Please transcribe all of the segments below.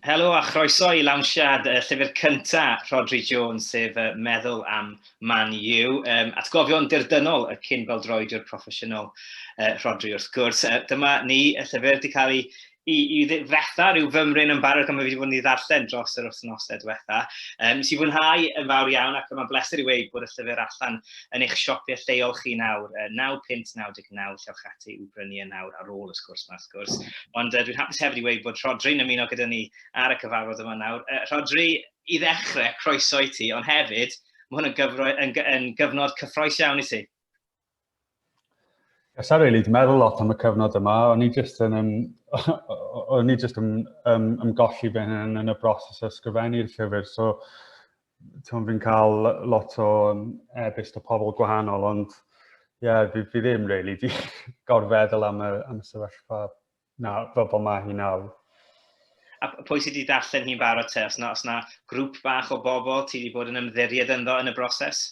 Helo a chroeso i lawnsiad y llyfr cyntaf Rhodri Jones, sef uh, Meddwl am Man U. Um, atgofion dirdynnol y cyn beldroediwr proffesiynol uh, Rhodri wrth gwrs. Uh, dyma ni, y llyfr wedi cael ei i, i ddifretha rhyw fymryn yn barod gan mae wedi bod yn ei ddarllen dros yr wythnosau diwetha. Um, nes i fwynhau yn fawr iawn ac mae'n bleser i wneud bod y llyfr allan yn eich siopiau lleol chi nawr, uh, 9.99 llewch ati i'w brynu yn nawr ar ôl y sgwrs yma. wrth gwrs. Ond uh, dwi'n hapus hefyd i weud bod Rhodri'n ymuno gyda ni ar y cyfarfod yma nawr. Uh, Rhodri, i ddechrau, croeso i ti, ond hefyd, mae hwn yn, gyfro, yn, yn gyfnod cyffroes iawn i ti. Yes, I really, meddwl lot am y cyfnod yma. O'n i jyst yn, um, o'n i jyst yn um, ymgolli fy hyn yn y broses o ysgrifennu'r llyfr. So, Ti'n fi'n cael lot o e-byst o pobl gwahanol, ond ie, yeah, fi, fi ddim really di gorfeddwl am y, am y sefyllfa na, fel bod mae hi nawr. A pwy sydd wedi darllen hi'n barod te? Os na, os na grŵp bach o bobl ti wedi bod yn ymddiried ynddo yn y broses?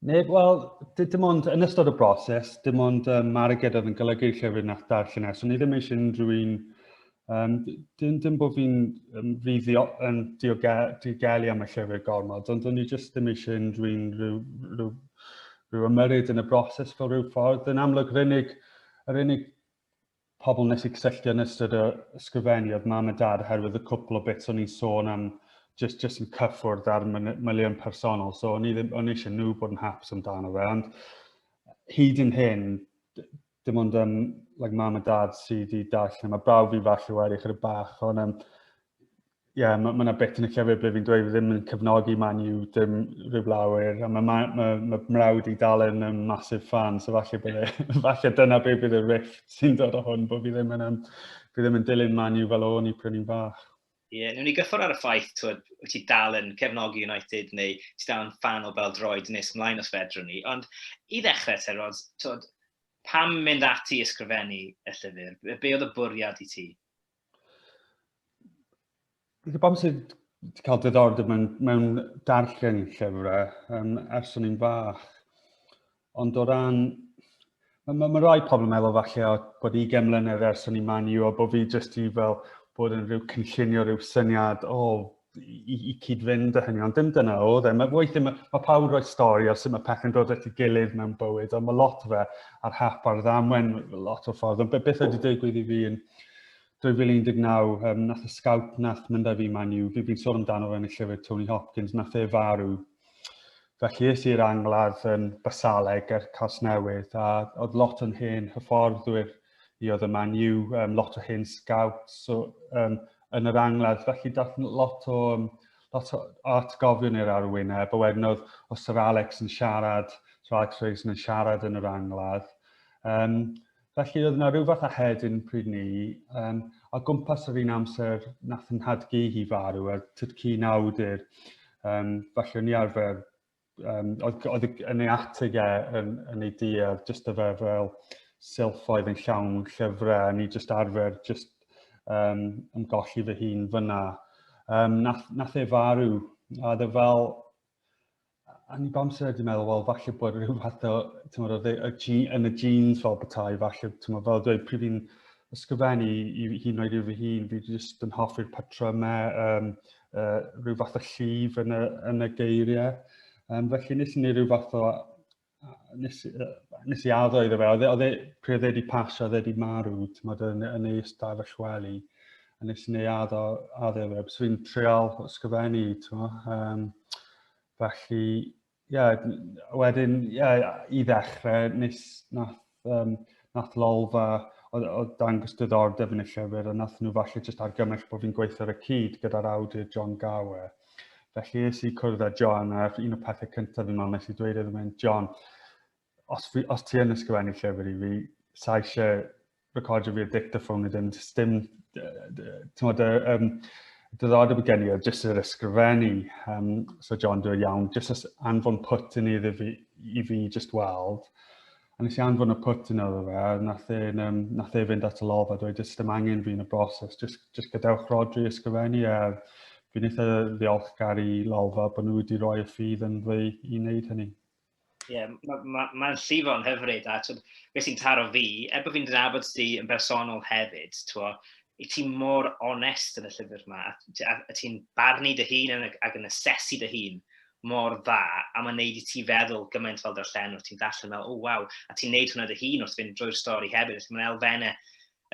Neu, wel, dim ond yn ystod y broses, dim ond um, Marged oedd yn golygu'r llyfr nath darllen es. O'n i ddim eisiau unrhyw un... Um, dim, dim bod fi'n um, fuddio yn diogelu am y llyfr gormod, ond o'n i jyst ddim eisiau unrhyw un rhyw, rhyw, rhyw ymyryd yn y broses fel rhyw ffordd. Yn amlwg, yr unig, yr unig pobl wnes i cysylltu yn ystod o ysgrifennu oedd mam a dad oherwydd y cwpl o bits o'n i'n sôn am jyst jyst yn cyffwrdd ar miliwn personol. So o'n i ddim o'n eisiau nhw bod yn haps amdano fe, ond hyd yn hyn, dim ond um, like, mam a dad sydd wedi darllen. Mae brawf fi falle wedi chyda bach, ond um, ie, yeah, mae ma yna bit yn y llyfr ble fi'n dweud fi ddim yn cyfnogi Man U dim rhyw blawer, a mae ma, ma, ma mrawd i dal yn um, massive fan, so falle, bydde, falle dyna be bydd y rift sy'n dod o hwn, bod fi ddim yn, um, fi ddim yn dilyn Man U fel o'n i pryn i'n fach. Ie, yeah, nhw'n ni gyffwrdd ar y ffaith, twyd, wyt ti dal yn cefnogi United neu ti dal yn fan o bel droed nes mlaen os fedrwn ni, ond i ddechrau te, Rod, twyd, pam mynd ati ysgrifennu y llyfr? Be oedd y bwriad i ti? Bydd bobl sydd wedi cael diddordeb mewn, mewn darllen llyfrau um, ers o'n i'n fach. Ond o ran... Mae ma, ma rai pobl yn meddwl falle o bod 20 mlynedd ers o'n i'n man i o bod fi jyst i fel bod yn rhyw cynllunio rhyw syniad o oh, i, i cyd-fynd â hynny, ond dim dyna oedd e. Mae weithiau, mae, mae pawb roi stori ar sut mae pethau'n dod at ei gilydd mewn bywyd, ond mae lot o fe ar hap ar ddamwen lot o ffordd. Ond beth ydy digwydd i fi yn 2019, um, nath y scout nath mynd â fi man i'w, fi'n fi sôn amdano fe yn y llyfr Tony Hopkins, nath e farw. Felly es i'r angladd yn Basaleg er Casnewydd, a oedd lot o'n hen hyfforddwyr i oedd y man i'w, um, lot o hen scouts, so, um, yn yr angladd, felly dath lot o, lot o atgofion i'r arwyneb, a wedyn oedd, oedd Sir Alex yn siarad, Sir Alex Ferguson yn siarad yn yr angladd. Um, felly oedd yna rhyw fath a hedyn pryd ni, um, a gwmpas yr un amser nath yn hadgu hi farw, a tyd cyn awdur, um, felly o'n i arfer um, oedd, oedd yn ei atig e yn, yn ei diedd, jyst y fe fel silffoedd yn llawn llyfrau, ni jyst arfer jyst um, ymgolli fy hun fyna. Um, nath, nath e farw, a dde fel, a ni bam sy'n wedi meddwl, wel, falle bod rhyw fath o, ti'n oedd e, y, yn y jeans fel bethau, falle, ti'n fel dweud, pryd fi'n ysgrifennu i, i hun oed i fy hun, fi jyst yn hoffi'r patrymau, um, uh, rhyw fath o llif yn y, yn y geiriau. Um, felly nes i ni rhyw fath o... Nes, uh, nes i addo iddo fe, oedd e, e pryd oedd e wedi pasio, oedd e wedi marw, tymod, yn, yn ei stafell wely. A nes i ni addo, addo fe, bys fi'n treol ysgrifennu, tymod. Um, felly, Ie, wedyn, ie, i ddechrau, nes nath, um, nath Lolfa o, o dangos diddordeb yn y llyfr, a nath nhw falle jyst argymell bod fi'n gweithio ar y cyd gyda'r awdur John Gower. Felly es i cwrdd â John, a un o pethau cyntaf fi'n meddwl nes i dweud iddo mynd, John, os, fi, os ti yn ysgrifennu llyfr i fi, sa eisiau recordio fi y dictaphone i ddim, jyst dim, ti'n modd, um, diddordeb y gen i o jyst yr ysgrifennu. Um, so John, dwi'n iawn, jyst as anfon put yn iddi fi, i fi jyst weld. A nes i anfon y put yn iddo fe, a nath e, um, nath e fynd at y lofa, dwi'n jyst dim angen fi yn y broses, jyst, jyst gadewch rodri ysgrifennu, a fi'n eitha ddiolchgar i lofa bod nhw wedi rhoi y ffydd yn fi i wneud hynny. Ie, mae'n ma, ma llifo'n hyfryd, a twyd, beth sy'n taro fi, er bod fi'n dynabod ti yn bersonol hefyd, twa, i ti mor onest yn y llyfr yma, a, a, a ti'n barnu dy hun yn, ac yn asesu dy hun mor dda, a mae'n neud i ti feddwl gymaint fel darllenwr, ti'n darllen fel, o oh, waw, a ti'n neud hwnna dy hun wrth fynd drwy'r stori hefyd, felly mae'n elfennau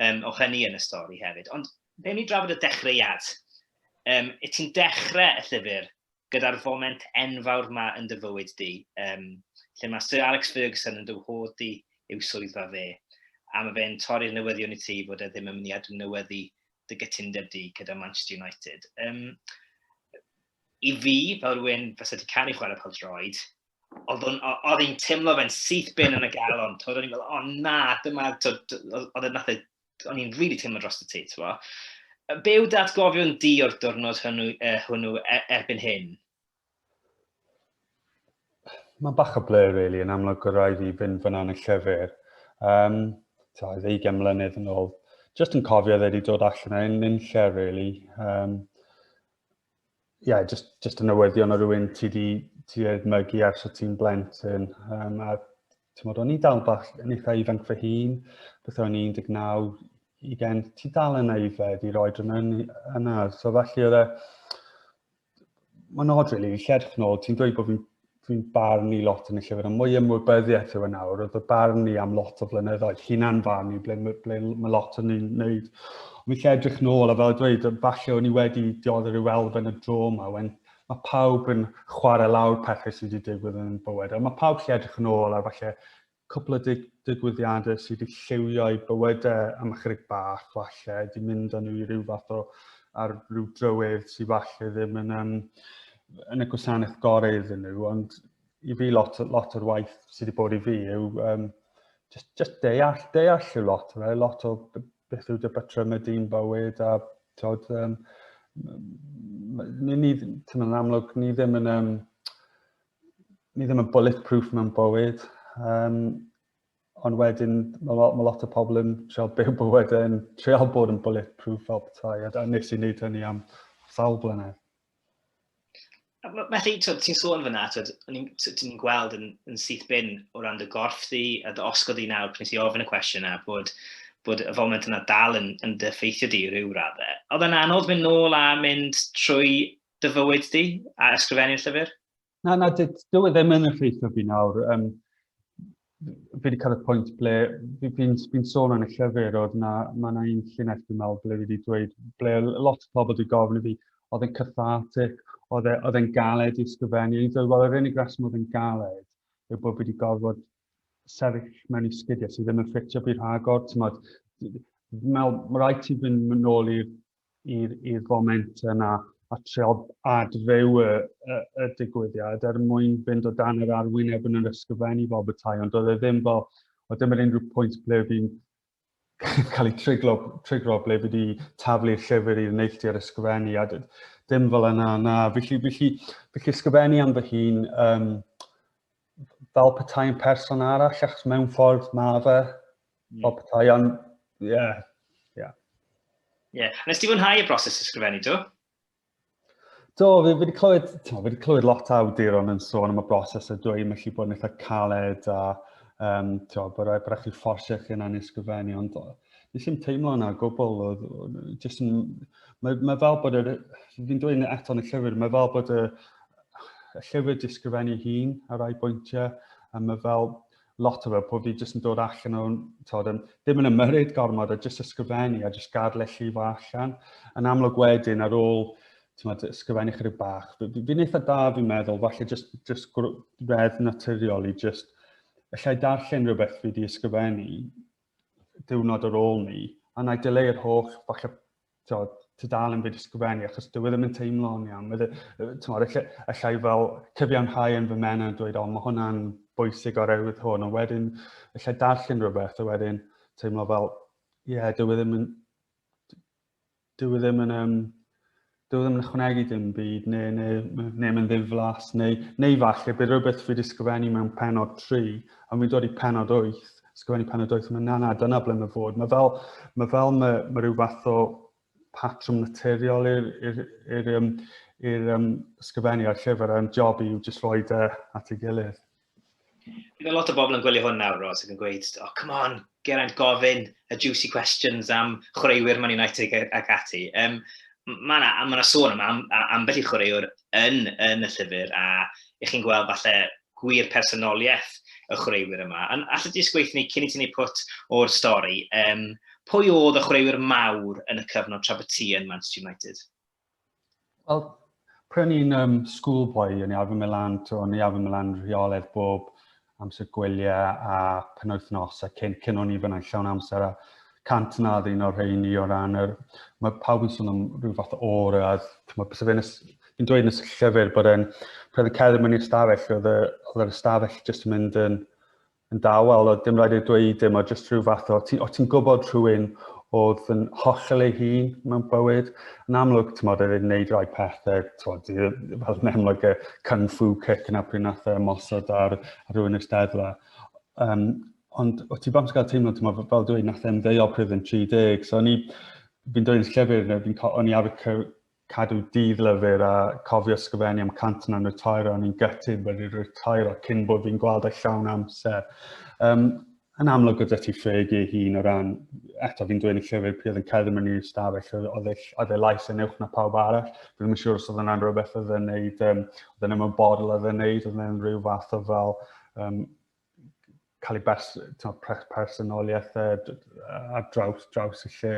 um, o hynny yn y stori hefyd. Ond fe ni drafod y dechreuad. Um, y ti'n dechrau y llyfr gyda'r foment enfawr 'ma yn dy fywyd di, um, lle mae Sir Alex Ferguson yn dy whod di yw swyddfa fe, a mae fe'n torri'r newyddion i ti fod e ddim yn mynd i adnewyddu dy gytundeb di gyda Manchester United. Um, I fi, fel rhywun fes wedi cael ei chwarae pel droed, oedd o'n i'n really teimlo dros y ti, ti'n bo? Be yw datgofion di o'r diwrnod hwnnw, uh, hwnnw e, erbyn hyn? Mae'n bach o ble, really, yn amlwg o rai fi fynd fyna yn y llyfr. Um, ta, oedd ei mlynedd yn ôl. Just yn cofio dde wedi dod allan yn un lle, really. Um, yeah, just, just yn newyddion o rywun ti di, ti di edmygu ar sy'n ti'n blentyn. Um, a ti'n modd, o'n i dal bach yn eitha ifanc fy hun, beth o'n 19, i gen, ti dal yn aeddfed i roi drwy'n yn yna. So falle oedd e, mae'n odd rili, really, lledch nôl, ti'n dweud bod fi'n fi'n barn i lot yn y llyfr, a mwy ymwybyddiaeth yw yn e awr, oedd y barn i am lot o flynyddoedd, hunan farn i ble, ble mae lot o'n ni'n neud. Ond fi'n edrych nôl, a fel dweud, falle o'n i wedi dioddef i'w elfen y dro yma, wen, mae pawb yn chwarae lawr pethau sydd wedi digwydd yn bywyd, a mae pawb lle edrych yn ôl ar falle cwpl o dig digwyddiadau sydd wedi lliwio i bywydau am ychydig bach falle, wedi mynd â nhw i ryw fath o ar ryw drywydd sydd falle ddim yn, um, yn y gwasanaeth gorau iddyn nhw, ond i fi lot, lot o'r waith sydd wedi bod i fi yw um, just, just deall, deall yw lot o fe, lot o beth yw dy batrym y dyn bywyd a tod, um, ni, ni, yn amlwg, ni ddim yn, um, ni ddim yn bulletproof mewn bywyd, um, ond wedyn mae lot, ma lot o pobl yn treol byw bywyd yn treol bod yn bulletproof fel petai, a nes i wneud hynny am sawl blynedd. Felly, ti'n sôn fyna, ti'n gweld yn, yn syth bin o ran dy gorff di, a dy osgod di nawr, pryn i ofyn y cwestiwn yna, bod, bod y foment yna dal yn, yn dy ffeithio di rhyw raddau. Oedd yna anodd mynd nôl a mynd trwy dy fywyd di a ysgrifennu llyfr? Na, na, dwi e ddim yn effeithio fi nawr. Um, fi wedi cael y pwynt ble fi'n fi, fi sôn yn y llyfr oedd na, mae yna un llinell dwi'n meddwl ble fi wedi dweud, ble lot o pobl wedi gofyn i fi, oedd e'n cathartic, oedd e, e'n galed i ysgrifennu. I'n dweud, wel, yr unig reswm oedd e'n galed yw bod wedi gorfod sefyll mewn i sgidiau sydd ddim yn ffitio fi rhagor. Ti'n modd, mae rhaid ti fynd yn ôl i'r i'r foment yna a trio adfyw y, y, y digwyddiad er mwyn fynd o dan yr arwyneb yn yr ysgrifennu fel bethau, ond oedd e ddim fel, oedd ddim yn unrhyw pwynt ble fi'n cael ei triglo, triglo ble fi wedi taflu'r llyfr i'r neilltu ar ysgrifennu, a dim fel yna, na. Felly, felly, felly ysgrifennu am fy hun, um, fel petai yn person arall, achos mewn ffordd mae fe, Mm. Bob tai, ond, ie. Yeah. Yeah. yeah. Nes ti fwynhau y broses ysgrifennu, do? Do, fi wedi clywed, fi wedi clywed lot o awduron yn sôn am y broses a dweud mae chi bod yn eitha caled a um, tio, bod rhaid chi fforsio chi yna'n ysgrifennu, ond nes i'n teimlo yna gwbl, jyst yn, mae, mae fel bod yr, fi'n dweud eto yn y llyfr, mae fel bod y, y llyfr disgrifennu hun ar rai bwyntiau, a mae fel, lot o fel bod fi jyst yn dod allan o'n, tod, yn, ddim yn ymyryd gormod a jyst ysgrifennu a jyst gadle llifo allan. Yn amlwg wedyn ar ôl tymod, ysgrifennu chydig bach, fi'n eitha da fi'n meddwl, falle jyst, jyst redd naturiol i jyst allai darllen rhywbeth fi wedi ysgrifennu diwrnod ar ôl ni, a na i dyleu'r holl falle tod, tudalen byd ysgrifennu, achos dwi e ddim yn teimlo'n iawn. Mae tymor, e, allai fel cyfiawnhau yn fy men yn dweud, o, mae hwnna'n bwysig o'r ewydd hwn, ond wedyn, allai darllen rhywbeth, a wedyn teimlo fel, ie, yeah, dwi e ddim yn, dwi e ddim yn, um, dwi e ddim yn ychwanegu dim byd, neu, neu, neu, neu mae'n ddiflas, neu, neu falle bydd rhywbeth fi wedi sgrifennu mewn penod 3, a fi'n dod i penod 8, sgwennu pan y doeth hwnna, na, na, dyna ble mae fod. Mae fel, mae fel, mae, mae rhyw fath o patrwm naturiol i'r, i'r, i'r, um, i'r um, sgyfennu a'r llyfr a'r job i'w jyst roi dy at ei gilydd. Bydd lot o bobl yn gwylio hwn nawr, Ros, ac yn gweud, oh, come on, Geraint, gofyn y juicy questions am chwaraewyr Man United ac ati. Um, mae yna ma sôn am, am, am beth i chwaraewr yn, yn y llyfr, a ych chi'n gweld falle gwir personoliaeth y chwaraewyr yma. Ond allet ti jyst gweithio ni cyn i ti wneud pwt o'r stori, um, pwy oedd y chwaraewyr mawr yn y cyfnod tra bod ti yn Manchester United? Wel, pryd o'n i'n um, schoolboy, o'n i arfer Milan, o'n i arfer Milan rheoledd bob amser gwyliau a penwythnos a cyn, cyn o'n i fyna'n llawn amser a cant na ddyn o'r rheini o ran yr... Mae pawb yn sôn am rhyw fath o aura, chymod, bys fe'n yn dweud yn y llyfr bod e'n... Pryd y cerdd yn mynd i'r stafell, oedd yr ystafell jyst yn mynd yn, yn dawel, oedd dim rhaid ei dweud dim, oedd jyst rhyw fath o... Ti'n ti gwybod rhywun oedd yn hollol ei hun mewn bywyd. Yn amlwg, ti'n modd, oedd e'n neud rhai pethau, tywod, fel yn amlwg y cyn fu cic yna pryd nath e mosod ar, ar rhywun y steddfa. Um, Ond o ti bam sy'n cael teimlo, ti'n meddwl, fel dwi'n nath e'n ddeio pryd yn 30, so o'n i, fi'n dweud yn llyfr, fi'n o'n i ar y cadw dydd lyfr a cofio sgyfennu am cant na'n retair o'n i'n gytid wedi retair o cyn bod fi'n gweld eich llawn amser. Um, yn amlwg gyda ti ffeg ei hun o ran, eto fi'n dweud yn llyfr pryd yn cedd yn i'r stafell, oedd e, e lais yn uwch na pawb arall. Fi'n ddim yn siŵr os oedd yna'n rhywbeth oedd e'n neud, um, oedd e'n ymwybodol oedd e'n neud, oedd e'n rhyw fath o fel um, cael ei bers, pres, personoliaeth e, ar draws, draws y lle.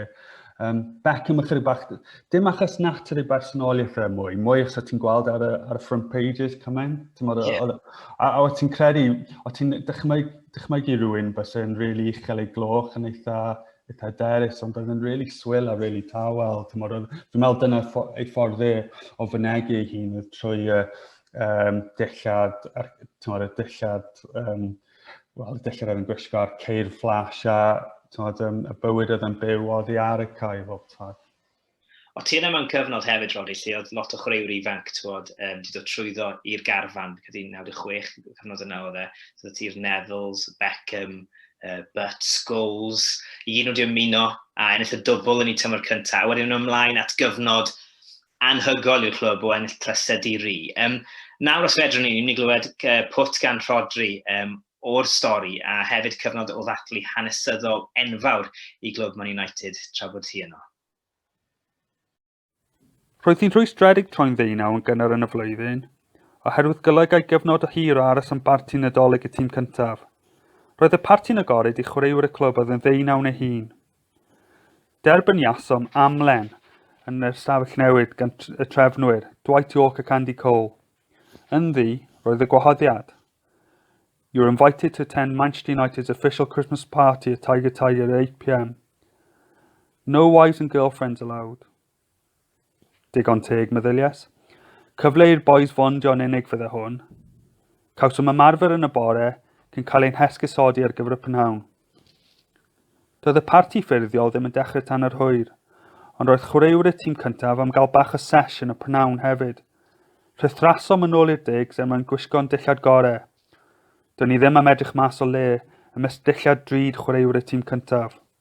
Um, Beck yma chydig bach, dim achos natur ei bersonoliaeth e mwy, mwy os ti'n gweld ar y, ar y front pages cymaint. Yeah. A, a o ti'n credu, o ti'n dychmyg, dychmygu rhywun bys yn rili really uchel ei gloch yn eitha, eitha derys, ond oedd yn rili really swil a rili really tawel. Dwi'n meddwl dyna ei ffordd e o fynegu ei hun oedd trwy uh, um, dillad, ar, tymod, y dillad, um, wel, dillad oedd yn gwisgo ar ceir flash a tymod, um, y bywyd oedd yn byw oddi ar y cae bob tad. O ti yna mewn cyfnod hefyd, Rodri, lle oedd lot o chwaraewr ifanc, tywod, um, di dod trwyddo i'r garfan, cyda 96, cyfnod yna oedd e, so ti'r Nevils, Beckham, uh, Butt, Scholes, i gyd nhw wedi ymuno a ennill y dwbl yn ei tymor cyntaf, a wedyn nhw ymlaen at gyfnod anhygoel i'r clwb o ennill trysedd di ri. Um, nawr os fedrwn ni, ni'n mynd i glywed uh, pwt gan Rodri um, o'r stori a hefyd cyfnod o ddathlu hanesyddol enfawr i glwb Man United tra bod hi yno. Roedd hi'n rhwystredig troi'n ddeunaw yn gynnar yn y flwyddyn, oherwydd golygai gyfnod o hir o aros yn barti nadolig y tîm cyntaf. Roedd y parti'n agored i chwaraewyr y clwb oedd yn ddeunaw neu hun. Derbyniasom amlen yn yr ystafell newid gan y trefnwyr, Dwight York ac Andy Cole. Ynddi, roedd y gwahoddiad. You're invited to attend Manchester United's official Christmas party at Tiger Tiger at 8pm. No wives and girlfriends allowed. Digon teg, meddylies. Cyfle i'r bois fondio yn unig fydde hwn. Cawsom ymarfer yn y bore, cyn cael ein hesgusodi ar gyfer y prynhawn. Doedd y parti ffurfiol ddim yn dechrau tan yr hwyr, ond roedd chwaraewr y tîm cyntaf am gael bach o sesh yn y prynhawn hefyd. Rhythrasom yn ôl i'r digs er mwyn gwisgo'n dillad gore. Do'n ni ddim am edrych mas o le, ymysg dillad drud chwaraewr y tîm cyntaf.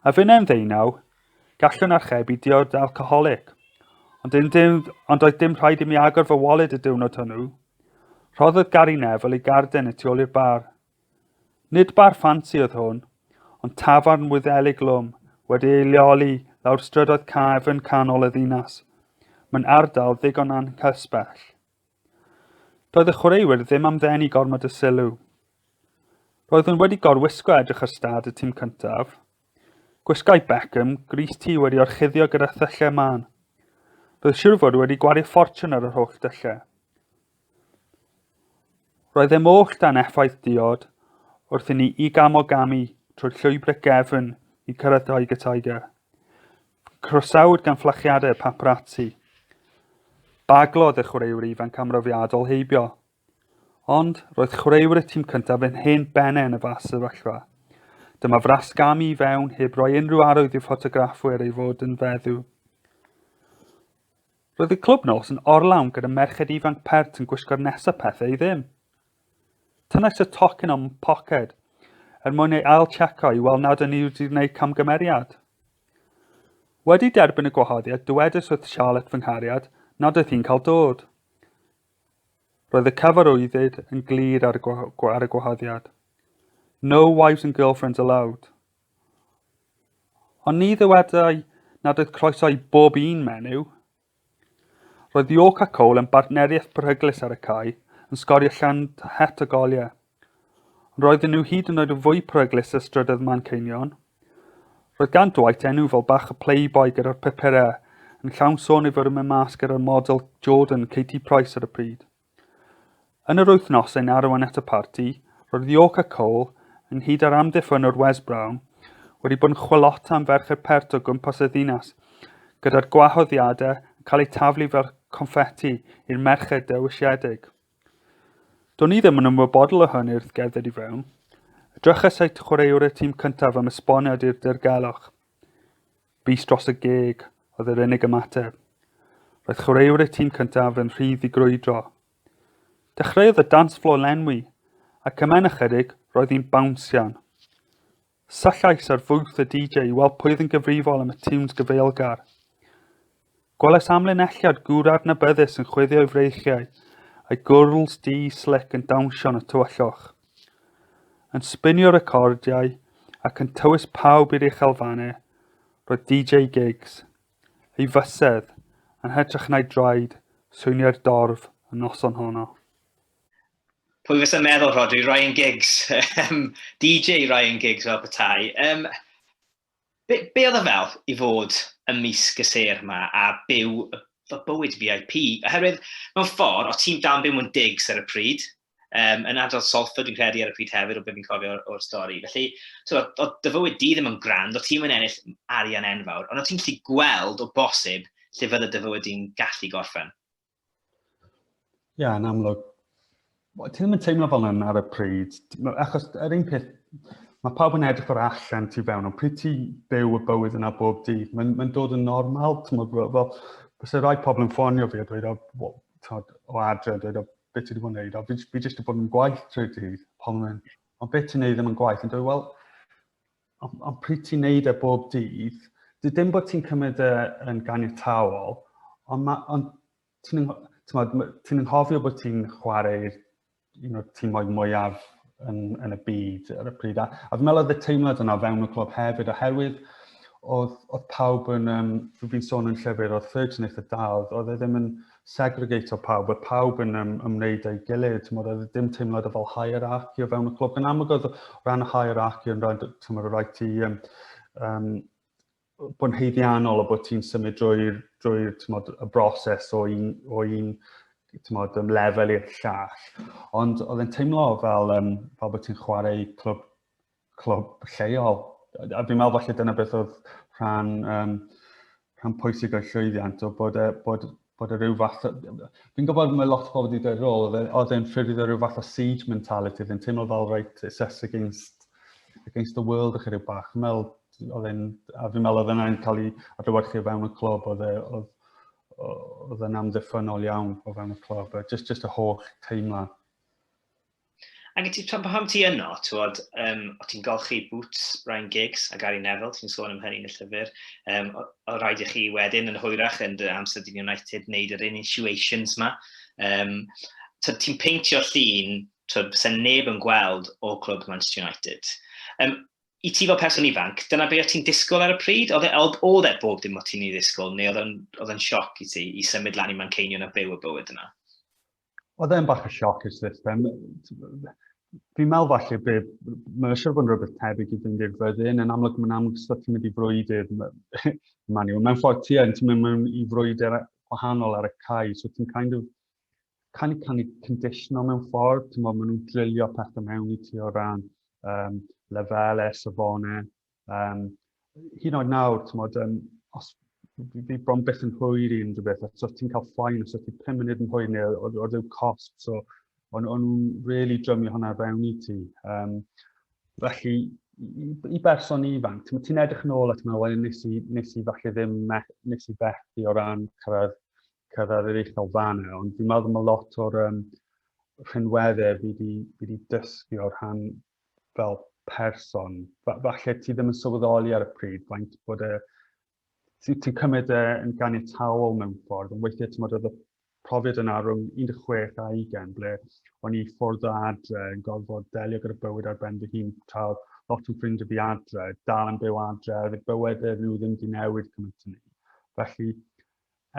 A finnau'n ddeunaw, gallwn archebu diod alcoholig. Ond, yn dim, ond oedd dim rhaid i mi agor fy wallet y diwrnod hwnnw. Rhoddodd Gary Neville ei garden y tu ôl i'r bar. Nid bar ffansi oedd hwn, ond tafarn wyddelig lwm, wedi ei leoli lawr strydoedd caf yn canol y ddinas. Mae'n ardal ddigon anghysbell. Doedd y chwaraewyr ddim am ddenu gormod o sylw. Roeddwn wedi gorwisgo edrych ar stad y tîm cyntaf. Gwisgai Beckham gris tu wedi orchuddio gyda thyllau man. Roedd siwr fod wedi gwario ffortiwn ar yr holl dyllau. Roedd e moll dan effaith diod wrth i ni i gam o gamu trwy'r llwybrau gefn i cyrraedd Tiger Tiger. Croesawyd gan fflachiadau paparazzi. Baglodd y chwaraewyr ifanc amrofiadol heibio. Ond roedd chwaraewyr y tîm cyntaf yn hen bennau yn y fas sefyllfa. Dyma frasgamu i fewn heb roi unrhyw arwydd i'r ffotograffwyr ei fod yn feddw. Roedd y clwb nos yn orlawn gyda merched ifanc pert yn gwisgo'r nesaf pethau i ddim. Tynnais y tocyn o'm poced er mwyn ei ail-tseco i weld nad yn i wedi gwneud camgymeriad. Wedi derbyn y gwahoddiad, dywedais wrth Charlotte fy nghariad nad oedd hi'n cael dod. Roedd y cyfarwyddyd yn glir ar y, ar y gwahoddiad. No wives and girlfriends allowed. Ond ni ddywedai nad oedd croeso i bob un menyw, Roedd York a Cole yn bartneriaeth beryglus ar y cae, yn sgorio llond het o goliau. Ond roedden nhw hyd yn oed yn fwy peryglus ar strydoedd Manceinion. Roedd gan Dwight enw fel bach y playboy gyda'r pupurau, yn llawn sôn ei fod yn mynd mas gyda'r model Jordan, Katie Price ar y pryd. Yn yr wythnosau yn arwain at y parti, roedd York a Cole, ynghyd â'r amddiffynnwr Wes Brown, wedi bod yn chwilota am ferch i'r pert o gwmpas y ddinas, gyda'r gwahoddiadau yn cael eu taflu fel confeti i'r merched dewisiedig. Do'n i ddim yn ymwybodol o hyn wrth gerdded i fewn. Edrychais at chwaraewr y tîm cyntaf am esboniad i'r dirgelwch. Bys dros y geg oedd yr unig ymateb. Roedd chwaraewr y tîm cyntaf yn rhydd i grwydro. Dechreuodd y dance floor lenwi, ac yma'n ychydig roedd hi'n bawnsian. Sallais ar fwth y DJ i weld pwy oedd yn gyfrifol am y tunes gyfeilgar. Gwelais amlinelliad gwr adnabyddus yn chwifio'i freichiau, a'i gwrls du slic yn dawnsio yn y tywallwch. Yn sbinio recordiau ac yn tywys pawb i'r uchelfannau, roedd DJ Gigs, ei fysedd, yn hytrach na'i draed, swyniau'r dorf y noson honno. Pwy fysa meddwl, Rhodri, Ryan Giggs, DJ Ryan Giggs fel petai. Um, Be, be oedd o fel i fod ym mis gyseir yma a byw y bywyd VIP? Oherwydd, mewn ffordd, o ti'n dan byw mewn digs ar y pryd, um, yn adrodd Salford fi'n credu ar y pryd hefyd o beth fi'n cofio o'r stori. Felly, so, o dy fywyd di ddim yn grand, o ti'n mynd ennill arian enfawr, ond o ti'n gallu gweld o bosib lle fydde dy fywyd di'n gallu gorffen. Ia, yn amlwg. Ti ddim yn teimlo fel yna ar y pryd. Achos yr un peth, mae pawb yn edrych o'r allan ti fewn, ond pryd ti byw y bywyd yna bob dydd, mae'n mae dod yn normal, ti'n meddwl, fel, bys y rhai pobl yn ffonio fi a dweud, o, tod, o adre, a dweud, o, beth ti wedi bod yn neud, o, fi, fi jyst wedi bod yn gwaith trwy dydd, pobl yn mynd, o, beth ti'n neud ddim yn gwaith, yn dweud, wel, ond, ond pryd ti'n neud e bob dydd, dim bod ti'n cymryd e yn ganiataol, ond, ma, ond ti'n ti nghofio bod ti'n chwarae'r un o'r tîmoedd mwyaf yn, yn y byd ar y pryd. A, a fi'n meddwl oedd y teimlad yna fewn y clwb hefyd, oherwydd oedd, oedd pawb yn, um, fi'n sôn yn llyfr, oedd Ferguson eitha dal, oedd e ddim yn, e segregatio pawb, bod pawb yn um, ymwneud â'i gilydd, tymod, oedd e ddim teimlad o fel hierarchy o fewn y clwb. Yn amlwg oedd o ran y hierarchy yn rhaid, tymod, o rhaid ti um, um, bod yn heiddiannol o bod ti'n symud drwy'r drwy, tymod, y broses o un, o un tymod, um, lefel i'r llall. Ond oedd e'n teimlo fel, um, fel bod ti'n chwarae clwb clwb lleol. A fi'n meddwl falle dyna beth oedd rhan, um, rhan pwysig o'r llwyddiant, o bod, e, bod, bod e rhyw fath... Fi'n gwybod mae lot o bobl wedi dweud rôl, e, oedd e'n ffurfio rhyw fath o siege mentality, oedd e'n teimlo fel right, it's us against, against the world, ych rhyw bach. Fi'n meddwl, oedd e'n, a fi'n meddwl oedd e'n cael ei adlywyrchu o fewn y clwb, oedd e, oedd, oedd e'n amddiffynol iawn o fewn y clwb, just, just y holl teimlad. Ac ti, pan, pan ti yno, tywod, um, o ti'n golchi Boots, Ryan Giggs a Gary Neville, ti'n sôn am hynny yn y llyfr, um, o, o rhaid i chi wedyn yn hwyrach yn dy amser dyn United wneud yr initiations ma. Um, ti'n peintio llun, tywod, sy'n neb yn gweld o clwb Manchester United. Um, I ti fel person ifanc, dyna beth ti'n disgwyl ar y pryd? Oedd e, oedd, oedd e bob dim o ti'n ei ddisgwyl, neu oedd e'n sioc i ti i symud lan i Manceinion a byw y bywyd yna? Oedd e'n bach o sioc i'r system. Fi'n meddwl falle bydd, mae'n siŵr bod yn rhywbeth tebyg i fynd i'r fyddin, yn amlwg mae'n amlwg sut ti'n mynd i frwydr, mae'n yw, mae'n ffordd ti yn, ti'n mynd mewn i frwydr gwahanol ar y cae, so ti'n kind of, kind of kind of conditional mewn ffordd, ti'n meddwl, maen nhw'n drillio pethau mewn i ti o ran um, lefelau, safonau, Um, hyn o'n nawr, ti'n modd, um, os fi bron beth yn hwyr i unrhyw beth, os ti'n cael ffain, os ti'n 5 munud yn hwyr neu o, o, o cost, so o'n nhw'n really drymio hwnna fewn i ti. Um, felly, i, i berson ifanc, ti'n ti edrych yn ôl at yma, wedyn nes i, nes i falle ddim me, nes i fethu o ran cyrraedd, cyrraedd yr uchel fan e, ond fi'n meddwl mae lot o'r um, rhinweddau fi wedi dysgu o'r rhan fel person, falle ti ddim yn sylweddoli ar y pryd faint bod e, ti'n ti cymryd e yn ganiataol mewn ffordd, ond weithiau ti'n meddwl y profiad yna rhwng 16 a 20, ble o'n i ffwrdd o adre yn gorfod delio gyda bywyd ar ben fy hun, tra lot yn ffrind o fi adre, dal yn byw adre, a bywyd e nhw ddim wedi newid cymaint yn ni. Felly,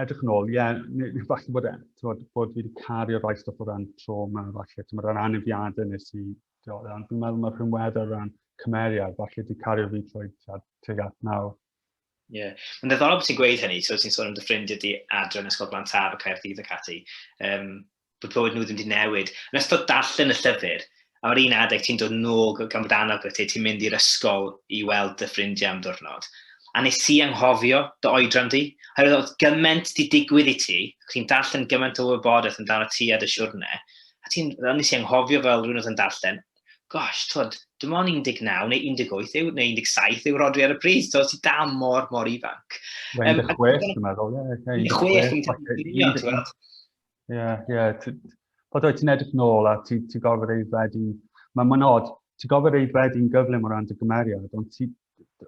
edrych yn ôl, ie, yeah, neu falle bod, e, bod, bod fi wedi cario rhai stwff o ran trauma, falle, ti'n meddwl, anafiadau nes i, ti'n meddwl, dwi'n meddwl mae'r rhywedd o ran cymeriad, falle wedi cario fi trwy teg at nawr. Ie. Yeah. Mae'n ddiddorol bod ti'n gweud hynny, so ti'n sôn am dy ffrindiau di adre yn Ysgol Blantar, y Caerdydd ac ati. Um, bod bywyd nhw ddim wedi newid. Yn ystod darllen y llyfr, a o'r un adeg ti'n dod nôl gan bod annog gyda ti, ti'n mynd i'r ysgol i weld dy ffrindiau am ddiwrnod. A nes i anghofio dy oedran di, oherwydd oedd gymaint di digwydd i ti, ac ti'n darllen gymaint o wybodaeth amdano ti a dy siwrne, a ti'n, fel nes i anghofio fel rhywun oedd yn darllen, gosh, tod, dim ond 19 neu 18 yw, neu 17 yw Rodri ar y pryd, so ti da mor, mor ifanc. 16, dwi'n meddwl, ie. 16, dwi'n meddwl, ie. Ie, yeah, ie. Yeah. Bod oed ti'n edrych nôl a ti'n ti gorfod ei ddwedu... Mae'n ma nod, ti'n gorfod ei ddwedu'n gyflym o ran dy gymeriad, ond ti,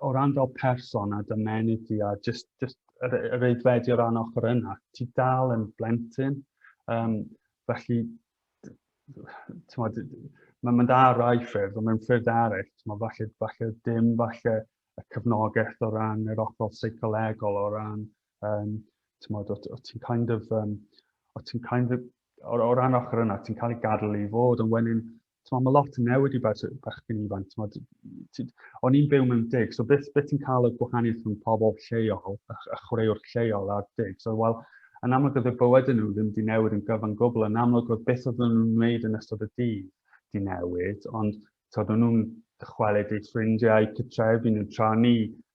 o ran fel person a dy menydd ti a just, just yr, yr ei ddwedu o ran ochr yna, ti dal yn blentyn. Um, felly, mae'n ma dda rai ffyrdd, ond mae'n ffyrdd eraill, ti'n falle, falle dim falle y cyfnogaeth o ran yr ochr seicolegol, o ran Um, tymod, o, o ti'n kind of, um, o ti'n kind of, o, o ran ochr yna, ti'n cael ei gadw i fod, ond wedyn, tymod, mae lot yn newid i bach bachgen ifanc, tymod, o'n i'n byw mewn dig, so beth, beth ti'n cael y gwahaniaeth rhwng pobl lleol, a, a chwaraewr lleol a'r dig, so wel, yn amlwg oedd y bywyd yn nhw ddim wedi newid yn gyfan gwbl, yn amlwg oedd beth oedd nhw'n wneud yn ystod y dydd di newid, ond tod, o'n nhw'n dychwelyd eu ffrindiau, cytrefi nhw tra ni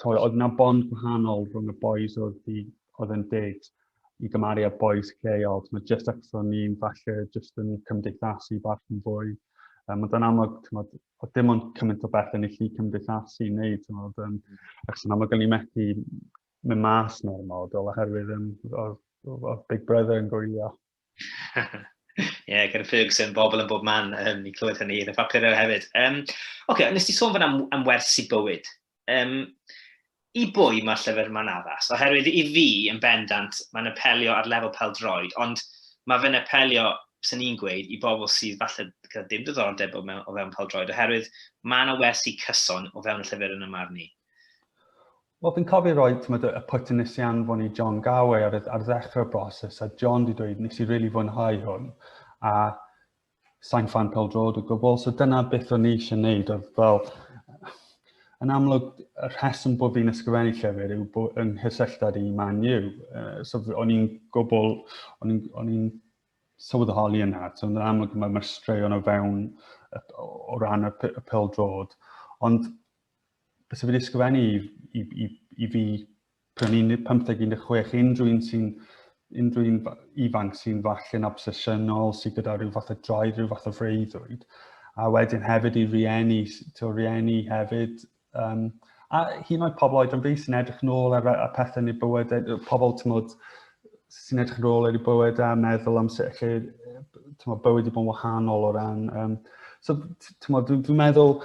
Tywed, oedd yna bond gwahanol rhwng y boys oedd, i, oedd yn dyd i gymaru â boys lleol. Mae jyst achos o'n ni'n falle jyst yn cymdeithasu bach yn fwy. Um, ond yn amlwg, tywed, oedd dim ond cymaint o beth yn ei lli cymdeithasu i wneud. Tywed, um, achos yn amlwg o'n i'n methu mynd mas neu'r model oherwydd um, oedd, oedd Big Brother yn gwylio. Ie, yeah, gyda Ferguson, bobl yn bob man, um, i clywed hynny, yn y papurau hefyd. Um, Oce, okay, nes ti sôn fan am, am wersi bywyd. Um, I bwy mae'r llyfr yma'n addas? Oherwydd i fi, yn bendant, mae'n apelio ar lefel pel droed, ond mae fe'n apelio, sy'n ni'n gweud, i bobl sydd falle gyda dim diddordeb o, mewn, o fewn pel droed, oherwydd mae yna wersi cyson o fewn y llyfr yn y marn i. Wel, fi'n cofio roi, ti'n meddwl, y pwt yn nes i anfon i John Gawai ar, ar ddechrau'r broses, a John di dweud, nes i rili really fwynhau hwn, a sain fan pel drod o gwbl, so dyna beth o'n i eisiau gwneud, oedd fel, yn amlwg, y rheswm bod fi'n ysgrifennu llyfr yw bod yng nghysylltad i Man U. Uh, so o'n i'n gwbl, o'n i'n sylweddoli yna. So yn amlwg mae'r ma straeon o fewn o ran y, y pel drod. Ond bys wedi ysgrifennu i, i, i, i fi pan i'n 15-16, unrhyw un sy'n unrhyw un ifanc sy'n falle'n obsesiynol, sy'n gyda rhyw fath o droed, rhyw fath o freuddwyd. A wedyn hefyd i rieni, to rieni hefyd, um, a hyn oed pobl oed yn fi sy'n edrych nôl ar, ar pethau yn ei bywyd, e, pobl tymod, sy'n edrych yn ôl ar ei bywyd a meddwl am sut lle tymod, bywyd wedi bod yn wahanol o ran... Um, so, tymod, dwi'n dwi meddwl,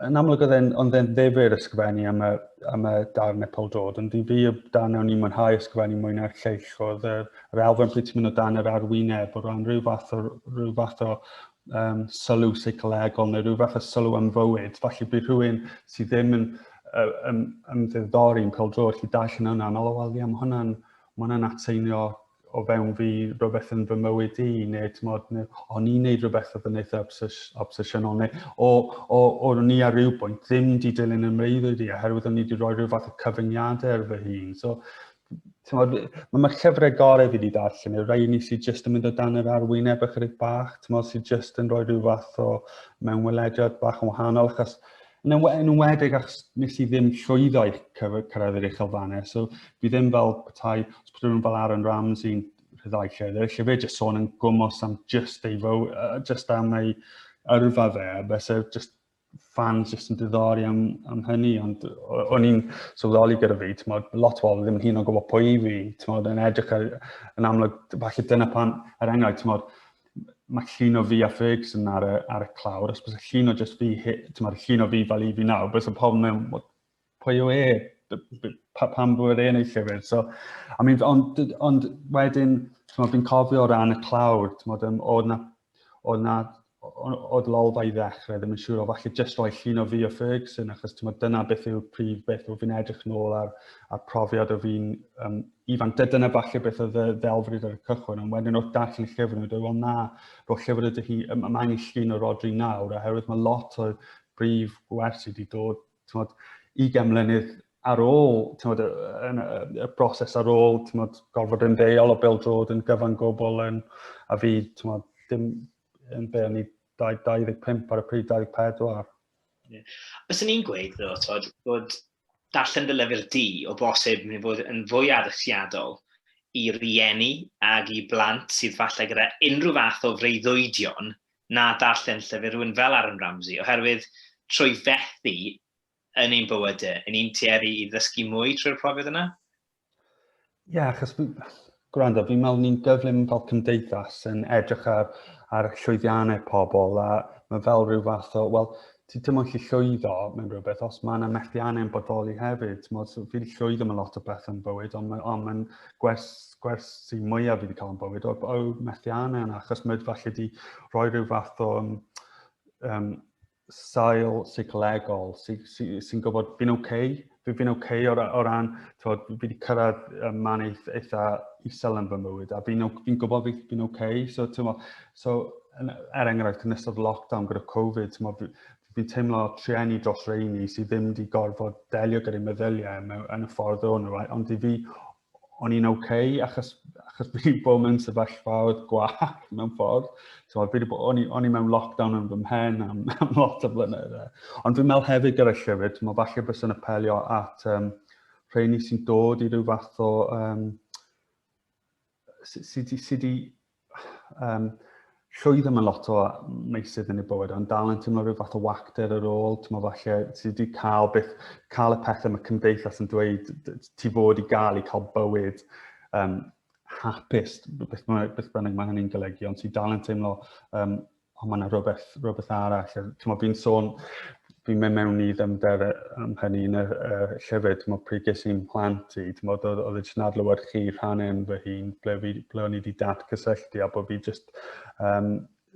yn amlwg oedd e'n ond e'n ddefur ysgrifennu am y, am y darn Epol Dod, ond i fi y darn o'n i'n mwynhau ysgrifennu mwy na'r lleill oedd yr, yr elfen pryd ti'n mynd o dan yr arwyneb o ran rhyw fath o, rhyw fath o um, sylw seicolegol neu rhyw fath o sylw am fywyd. Felly bydd rhywun sydd ddim yn um, ymddiddori yn pêl drod chi dall yn hwnna, meddwl, wel, ie, mae hwnna'n ma hwnna atseinio o fewn fi rhywbeth yn fy mywyd i, neu tmod, neu, o'n i'n neud rhywbeth oedd yn eitha obsesiynol, neu o, o, o, o ni ar ryw bwynt ddim di dilyn y mreiddwyd i, oherwydd o'n i wedi rhoi rhyw fath o cyfyngiadau ar fy hun. So, Tymod, mae mae'r llyfrau gorau fi wedi darllen, y rhai ni sydd jyst yn mynd o dan yr arwyneb ychydig bach, tymod, sydd jyst yn rhoi rhyw fath o mewn welediad bach yn wahanol, achos yn enwedig achos nes i ddim llwyddo i cyrraedd yr uchel fanau, so fi ddim fel petai, os bod nhw'n fel Aaron Ramsey'n rhyddhau llyfr, lle fe jyst sôn yn gwmwys am just ei fywyd, just am ei yrfa fe, a beth sy'n just fans jyst yn diddori am, am hynny, ond o'n i'n sylweddoli gyda fi, ti'n modd, lot o bobl ddim yn hyn o'n gwybod pwy i fi, ti'n modd, yn edrych ar, yn amlwg, falle dyna pan, er enghraifft, ti'n modd, mae llun o fi a Ferguson ar y, ar y clawr, os bys y llun o just fi, ti'n modd, llun o fi fel i fi nawr, bys y pobl mewn, pwy yw e, pam bod e'n ei llyfr. So, I mean, ond, ond wedyn, fi'n cofio o ran y clawr, oedd na, oedd na oedd lolfa i ddechrau ddim yn siŵr o falle jyst roi llun o fi o Ferguson achos ti'n meddwl dyna beth yw'r prif beth o fi'n edrych nôl ar, ar profiad o fi'n um, ifan. Dyna falle beth oedd y ddelfryd ar y cychwyn, ond wedyn wrth darllen y llyfr nhw, dweud, wel na, roedd llyfr ydych chi, mae angen llun o Rodri nawr, oherwydd mae lot o brif gwersi wedi dod tymod, 20 mlynedd ar ôl tymod, y, y, y broses ar ôl tymod, gorfod yn ddeol o Bill Drod yn gyfan gobl yn, a fi tymod, dim yn be o'n i 25 ar y pryd 24. Yeah. Os o'n i'n gweud ddo, tymod, bod darllen dy lyfr di o bosib yn fod yn fwy addysgiadol i rieni ag i blant sydd falle gyda unrhyw fath o freuddwydion na darllen llyfr rhywun fel Aaron Ramsey, oherwydd trwy fethu yn ein bywyde, yn ni'n tueddu i ddysgu mwy trwy'r profiad yna? Ie, yeah, achos gwrando, fi'n meddwl ni'n gyflym fel cymdeithas yn edrych ar, ar llwyddiannau pobl a mae fel rhyw fath o, wel, ti ddim yn gallu llwyddo mewn rhywbeth os mae yna methiannau'n bodoli hefyd. Tmod, so, fi wedi llwyddo mewn lot o beth yn bywyd, ond mae'n on, on gwers, gwers sy'n mwyaf fi wedi cael yn bywyd o, o methiannau yna, achos mae falle wedi rhoi rhyw fath o um, um, sail seicolegol sy'n sy, sy, sy gwybod fi'n oce, okay, fi, fi'n oce okay o, o ran, tywod, fi wedi cyrraedd um, man eith, eitha isel yn fy mywyd, a fi'n fi gwybod fi, fi'n oce, okay. so, tymo, so, er enghraifft, yn ystod lockdown gyda Covid, tymo, fi, fi'n teimlo trueni dros reini sydd ddim wedi gorfod delio gyda'i meddyliau yn y ffordd o'n nhw, ond i fi, o'n i'n oce, okay, achos, achos fi wedi bod mewn sefyllfa oedd gwag mewn ffordd. So, fi wedi bod, o'n i mewn lockdown yn fy mhen am, am lot o flynedd. E. Ond fi'n meddwl hefyd gyda'r llyfr, ti'n meddwl falle bys yn apelio at um, rheini sy'n dod i ryw fath o... Um, sydd wedi um, llwyddo mewn lot o meysydd yn ei bywyd, ond dal yn teimlo rhyw fath o wacter ar ôl, ti'n meddwl falle ti wedi cael beth, cael y pethau mae cymdeithas yn dweud, ti fod i gael i cael bywyd um, hapus, beth, beth bynnag mae hynny'n golygu, ond ti dal yn teimlo um, o mae yna rhywbeth, rhywbeth arall. Mae fi'n sôn, fi'n mynd mewn i ddymder am hynny yn y uh, llyfr, mae pryd ges i'n plant i, ti'n oedd oedd jyst yn adlywed chi rhan yn fy hun, ble, fi, ble o'n i wedi dat cysylltu a bod fi jyst um,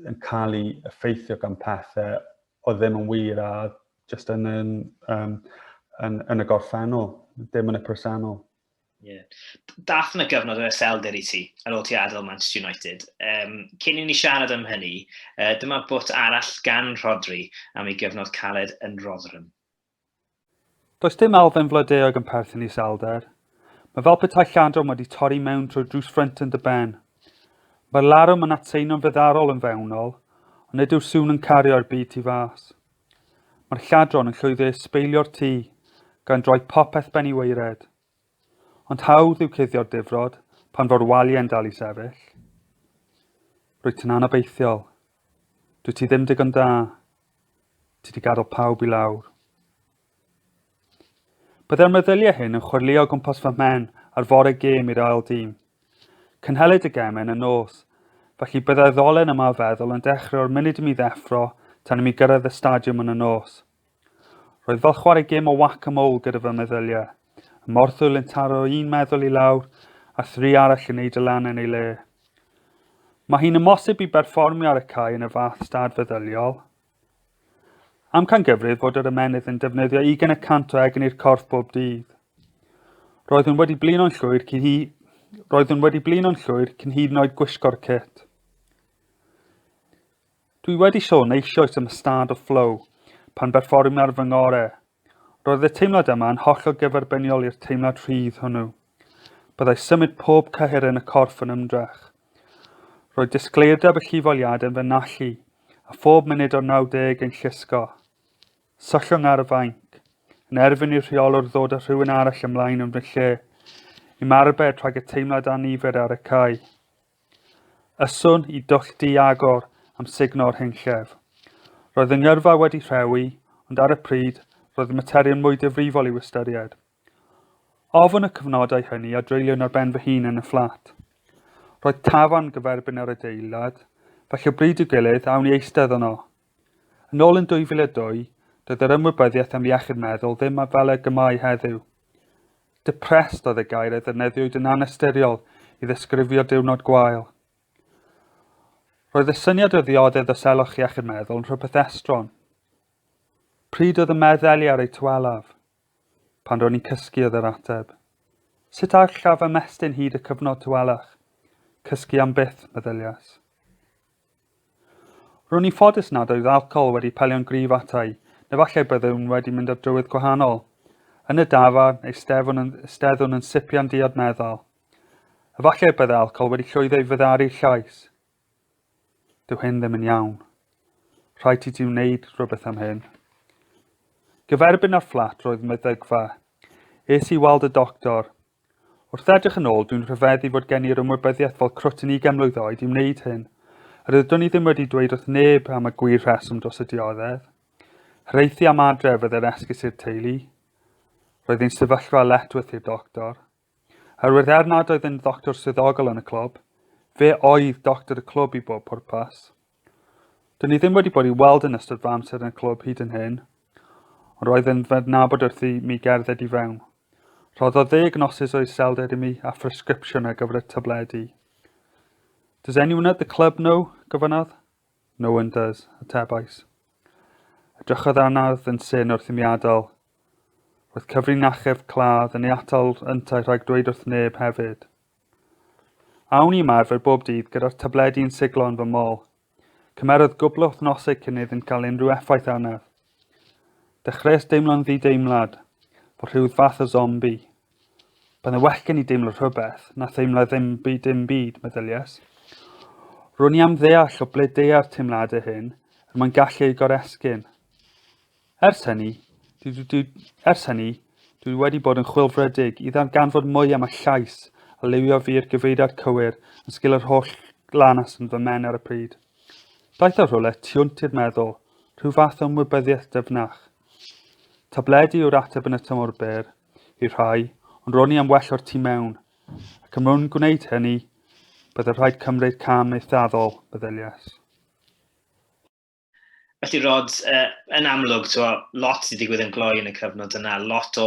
yn cael ei effeithio gan pethau o ddim yn wir a jyst yn, yn, um, yn, yn y gorffennol, dim yn y presennol. Yeah. Dath yna gyfnod o eselder i ti ar ôl ti adael Manchester United. Um, cyn i ni siarad am hynny, uh, dyma bwt arall gan Rodri am ei gyfnod caled yn Rotherham. Does dim alfen flydeog yn perthyn i selder. Mae fel petai lladwm wedi torri mewn trwy drws ffrynt yn dy ben. Mae'r larwm yn atseino'n feddarol yn fewnol, ond nid yw'r sŵn yn cario'r byd tu fas. Mae'r lladron yn llwyddiau sbeilio'r tŷ, gan droi popeth ben i weired. Ond hawdd yw cuddio'r difrod pan fo'r waliau'n dal i sefyll. Rwyt ti'n anobeithiol. Dwi ti ddim digon da. Ti di gadael pawb i lawr. Byddai'r meddyliau hyn yn chwyrlio gwmpas fy mhen ar fore gêm i'r ail dîm. Cynhelid y gem yn y nos, felly byddai'r ddolen yma o feddwl yn dechrau o'r munud i mi ddeffro tan i mi gyrraedd y stadiwm yn y nos. Roedd fel chwarae gêm o wac a mwl gyda fy meddyliau, y morthwyl yn taro un meddwl i lawr a thri arall yn neud y lan yn ei le. Mae hi'n ymosib i berfformio ar y cae yn y fath stad feddyliol, Amcangyfrif fod yr ymennydd yn defnyddio ugain y cant o egin i'r corff bob dydd. Roeddwn wedi blino'n llwyr cyn hi... Roeddwn wedi blino'n llwyr cyn hyd yn oed gwisgo'r cit. Dwi wedi sôn eisoes am y stad o flow pan berfformiwm ar fy ngore, Roedd y teimlad yma yn hollol gyferbyniol i'r teimlad rhydd hwnnw. Byddai symud pob cyhyr yn y corff yn ymdrech. Roedd disgleirdeb y llifoliad yn fy nallu, a phob munud o'r 90 yn llusgo. Syllwng ar y fainc, yn erfyn i'r rheolwr ddod â rhywun arall ymlaen yn fy lle, i'm arbed rhag y teimlad anifed ar y cae. Yswn i dollti agor am sugno'r hyn llef. Roedd yng ngyrfa wedi rhewi, ond ar y pryd, roedd y materion mwy difrifol i'w ystyried. Ofn y cyfnodau hynny a dreuliwn ar ben fy hun yn y fflat. Roedd tafarn gyferbyn ar adeilad, felly o bryd i'w gilydd awn i eistedd yno, Yn ôl yn 2002, doedd yr ymwybyddiaeth am iechyd meddwl ddim fel ag y mae heddiw. Depressed oedd y gair a ddefnyddiwyd yn anystyriol i ddesgrifio diwrnod gwael. Roedd y syniad o ddioddef o selwch iechyd meddwl yn rhywbeth estron. Pryd oedd y meddeli ar eu tywelaf? Pan ro'n i'n cysgu oedd yr ateb. Sut allaf ymestyn hyd y cyfnod tywelach? Cysgu am byth, meddyliais. Ro'n i'n ffodus nad oedd alcohol wedi pelio'n gryf ata i, neu falle byddwn wedi mynd ar drywydd gwahanol. Yn y dafarn, eisteddwn yn, eisteddwn yn sipian diod meddal. Efallai byddai alcohol wedi llwyddo i fyddaru'r llais. Dyw hyn ddim yn iawn. Rhaid i ti wneud rhywbeth am hyn. Gyferbyn â'r fflat roedd meddygfa. Es i weld y doctor. Wrth edrych yn ôl, dwi'n rhyfeddu fod gen i'r ymwybyddiaeth fel crwt yn ugain mlwydd oed i wneud hyn. Rydwn i ddim wedi dweud wrth neb am y gwir rheswm dros y dioddef. Hreithi am adref fydde'r esgus i'r teulu. Roedd ein sefyllfa Letworth i'r doctor. Oherwydd er nad oedd yn ddoctor swyddogol yn y clwb, fe oedd doctor y clwb i bob pwrpas. Dyn ni ddim wedi bod i weld yn ystod fy amser yn y clwb hyd yn hyn, ond roedd yn fy nabod wrth i mi gerdded i fewn. Rhoddodd ddeg nosus o iselder i mi a phresgripsiwn ar gyfer y tabledi. Does anyone at the club know? gofynnodd. No one does, atebais. Edrychodd anardd yn syn wrth i mi adael. Roedd cyfrin achub cladd yn ei atal yntau rhag dweud wrth neb hefyd. Awn i ymarfer bob dydd gyda'r tabledi yn siglo yn fy mol, Cymerodd gwbl o wythnosau cyn iddynt gael unrhyw effaith arnaf. Dechreuais deimlo'n ddideimlad, fel rhyw fath o zombi. Byddai well gen i deimlo rhywbeth, na theimlo ddim byd dim byd, meddyliais. Ro'n i am ddeall o ble deua'r teimladau hyn, er mwyn gallu eu goresgyn. Ers hynny, dwi, dwi, dwi, ers hynny, dwi wedi bod yn chwilfrydig i ddarganfod mwy am y llais a liwio fi i'r gyfeiriad cywir yn sgil yr holl glanas yn fy men ar y pryd. Daeth o rhywle tiwnt i'r meddwl, rhyw fath o ymwybyddiaeth dyfnach. Tabledi yw'r ateb yn y tymor byr, i rhai, ond ro'n i am well o'r tu mewn, ac ym mwyn gwneud hynny, byddai rhaid cymryd cam eithafol, meddyliais. Felly, Rod, uh, yn amlwg, twa, lot sy'n digwydd yn gloi yn y cyfnod yna, lot o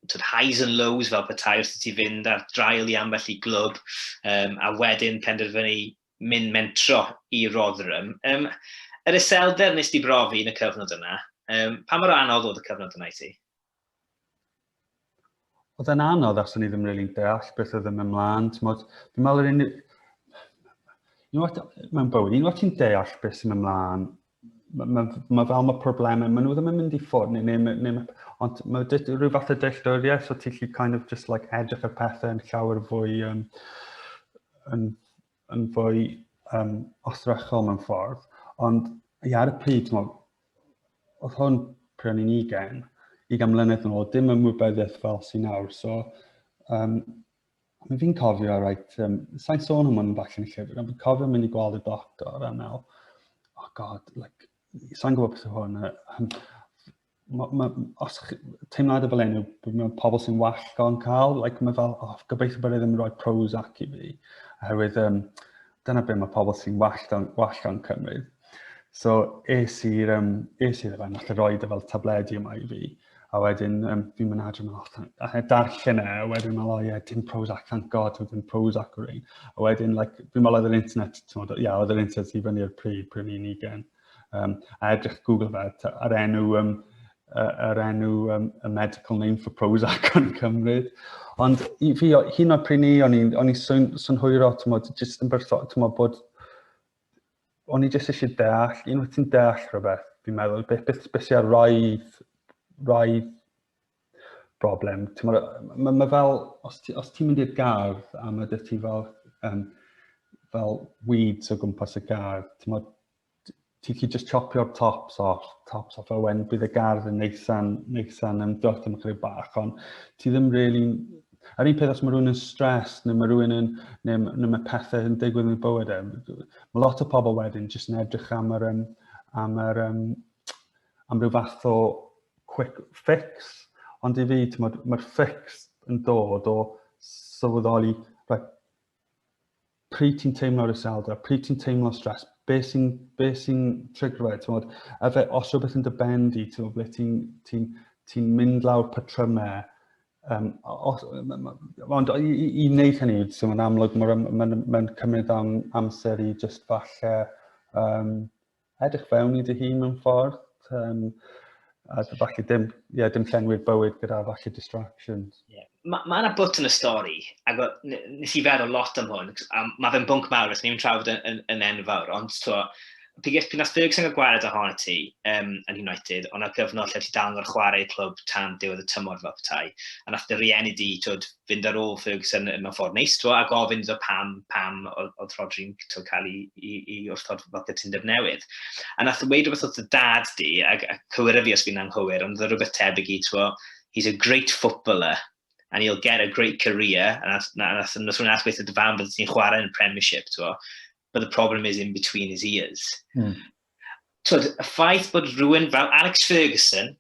tyd, highs and lows fel petai wrth i ti fynd ar draul i ambell i glwb, um, a wedyn penderfynu mynd mentro i Rotherham. Um, yr iselder nes di brofi yn y cyfnod yna, um, pa mor anodd oedd y cyfnod yna i ti? oedd e'n anodd achos o'n i ddim really yn deall beth oedd yn mynd mlaen. Tmod, fi'n meddwl yr unig... Unwaith, mewn bywyd, unwaith ti'n deall beth sy'n mynd mlaen, mae ma, ma fel mae problemau, maen nhw ddim yn mynd i ffwrdd, neu, neu, neu, neu, ond mae dweud rhyw fath o dealltwriaeth, so ti'n lli kind of just like edrych ar pethau yn llawer fwy um, yn, yn fwy um, ostrychol mewn ffordd, ond i ar y pryd, ti'n oedd hwn pryd o'n i'n ugen, i gan mlynedd yn ôl, dim ymwybyddiaeth fel sy'n nawr, so um, mae fi'n cofio, right, um, sa'n sôn am hwn yn falle yn y llyfr, ond fi'n cofio mynd i gweld y doctor a meddwl, oh god, like, sa'n gwybod beth yw hwn, ma, ma, os teimlad y fel enw, mae pobl sy'n wallgo yn cael, like, mae fel, oh, gobeithio bod e ddim yn rhoi pros ac i fi, oherwydd um, dyna beth mae pobl sy'n wallgo, wallgo yn cymryd. So, es i'r um, es i'r efenn, allai roi dy fel tabledi yma i fi, a wedyn um, fi'n mynd adre mewn allan, a he darllen e, a wedyn mae'n oh, yeah, dim pros ac thank god, dim pros ac o'r ein. A wedyn, like, fi'n meddwl oedd yr internet, ti'n meddwl, ia, oedd yr internet i fyny'r pryd, pryd ni'n ugen. Like, Um, a edrych Google that ar enw, um, ar enw um, a medical name for Prozac yn cymryd. Ond i fi, hyn o'r pryn ni, o'n i'n swn, swn hwyro, ti'n modd, jyst yn bertho, ti'n modd bod, o'n i jyst eisiau deall, un wyt ti'n deall rhywbeth, fi'n meddwl, beth, beth, beth sy'n rhaid, rhaid broblem. Mae ma fel, os ti'n ti, ti mynd i'r gardd a mae dych ti fel, um, fel weeds o gwmpas y gardd, ti'n ti'n chi just chopio'r tops off, tops off, a wen bydd y gardd yn neithan, neithan yn dwrt am ychydig bach, ond ti ddim really... A'r un peth os mae rhywun yn stres, neu mae rhywun yn, neu, neu mae pethau yn digwydd yn y bywyd, e, mae lot o pobl wedyn jyst yn edrych am yr, um, am yr, um, am ryw fath o quick fix, ond i fi, mae'r ma fix yn dod o sylweddoli, right, pryd ti'n teimlo'r iselder, pryd ti'n teimlo stres, be sy'n be sy trigro e, tywod, a fe, os rhywbeth yn dy ben di, tywod, ble ti'n ti, ti mynd lawr patrymau, um, os, ond i, i, i wneud hynny, so mae'n amlwg, mae'n ma, ma, ma cymryd am, amser i just falle um, edrych fewn i dy hun mewn ffordd, um, a falle dim, yeah, dim llenwi'r bywyd gyda falle distractions. Yeah. Mae ma yna bwt yn y stori, ac nes i feddwl lot am hwn, a mae fe'n bwnc mawr, os ni'n trafod yn, yn, yn enfawr, ond to, piges pyn as byg sy'n cael gwared ohono ti um, yn United, ond ar gyfnod lle ti dal yn chwarae clwb tan diwedd y tymor fel petai, a nath dy rieni di, twyd, fynd ar ôl Ferguson yn mewn ffordd neis, twa, a gofyn iddo pam, pam oedd Rodri'n twa, cael ei, ei, ei wrthod fel cytundeb newydd. A nath yn weid rhywbeth oedd y dad di, a, a cywir fi os fi'n anghywir, ond oedd rhywbeth tebyg i, twa, he's a great footballer, and he'll get a great career, a nath, na, nath, nath, nath, nath weithio dy fam bydde ti'n chwarae yn y Premiership, twa, but the problem is in between his ears. Mm. Twyd, y ffaith bod rhywun fel Alex Ferguson,